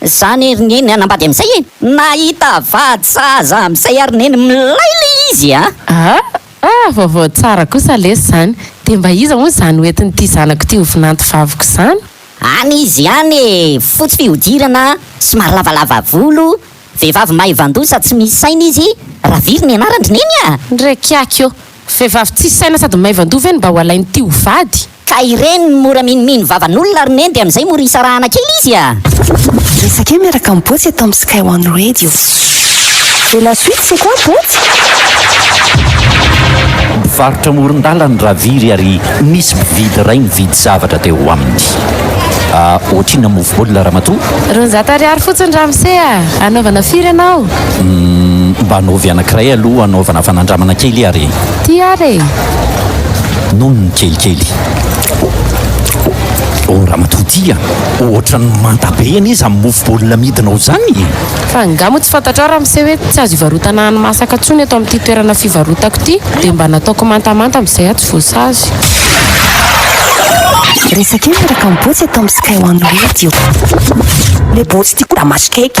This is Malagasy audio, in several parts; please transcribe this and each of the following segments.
Zany ery neny hanambady amizay e! Nahita vady sahaza amizay ary neny milay le izy a! Aa! vaovao tsara kosa lesy zany! De mba iza hono zany ho entin'ity zanako ity ho vinanto vaviko zany? Any izy any e! Fotsy fihodirana, somary lavalava volo, vehivavy maivandoza tsy misy saina izy, Raviry ny anarandry neny a! Ndreky aky ô! Vehivavy tsisy saina sady maivandoha ve no mba ho alain'ity ho vady? Ka ireny no mora minomino vavan'olona ry Neny dia amin'izay mora isarahana kely izy a! Resake miaraka am Botsy eto am Sky One Radio. Et la suite c'est quoi Botsy? Mpivarotra amoron-dalana i Raviry ary nisy mpividy iray nividy zavatra teo aminy. Ah, ohatrinona mofo baolina ramatoa? Roanjato ariary fotsiny ramose a! Anaovana firy ianao? Mba anaovy anankiray aloha anaovana fanandramana kely ary e! Ty ary e! Nony kelikely. Oh ramatoa ty a! Ohatran'ny manta be anie izany mofo baolina amidinao izany e! Fa angaha moa tsy fantatrao ramose hoe tsy azo ivarotana hani-masaka tsony eto amin'ity toerana fivarotako ity dia mba nataoko mantamanta amin'izay aho tsy voasazy. Resaka io miaraka amin'ny botsy eto amin'ny Sky One Radio. Ilay botsy ity koa da maso cake.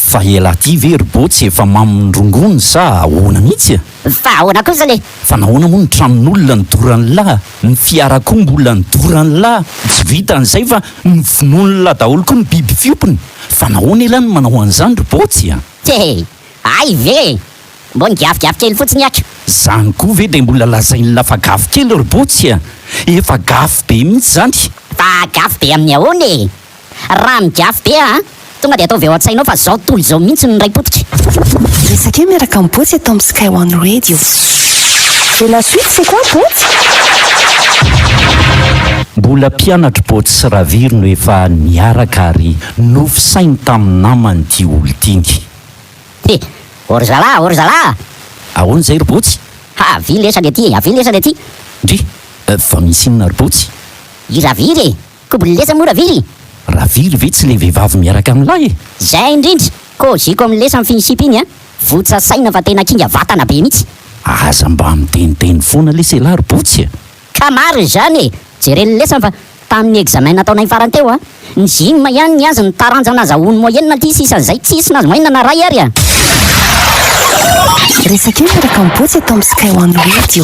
Fa elah ty ve ry boo tsy efa mamin'ny rongony sa ahoana mihitsy a! Fa ahoana kosa le! Fa nahoana moa ny tranon'olona no doran'lah, ny fiara koa mbola ny doran'lah, tsy vitan'izay fa novonoin'lah daholo koa ny biby fiompiny, fa nahoana elah no manao an'izany ry botsy a! Tee! Hay ve e! Mbo nigavigavy kely fotsiny aky. Zany koa ve dia mbola lazain'lah fa gavy kely ry botsy a! Efa gafy be mihitsy zany. Fa gafy be amin'ny ahoana e! Raha migiafy be aho a! Tonga dia ataovy ao an-tsainao fa zao tontolo izao mihitsy no niray potika. Resake miaraka amin'i Botsy eto amin'ny Sky One Radio. Et la suite c'est quoi Botsy? Mbola mpianatr'i Botsy sy Raviro no efa niaraka ary nofisainy tamin'ny namany ity olon-tiany. He! O ry zalahy! O ry zalahy! Ahoana izay ry Botsy? Ha! Avia lesany aty e! Avia lesany aty! Ndry! Fa misy inona ry Botsy? I Raviro e! Kobo lesa moa Ravily? Ravily ve tsy le vehivavy miaraka amin'ny lahy e? Zay indrindra! Koziko amin'ny lesa mifiny sipa iny an! Votsa saina fa tena kinga vatana be mitsy! Aza mba miteniteny foana lesy elah ry Botsy e! Ka marina izany e! Jere ny lesany fa tamin'ny examen nataonay farany teo an! Ny gym ihany ny azy ny taranja nazahoany moyenne aty sisan'izay tsisy nahazo moyenne na ray ary an! Resak'io miaraka amin'ny Botsy eto amin'ny Sky One Radio.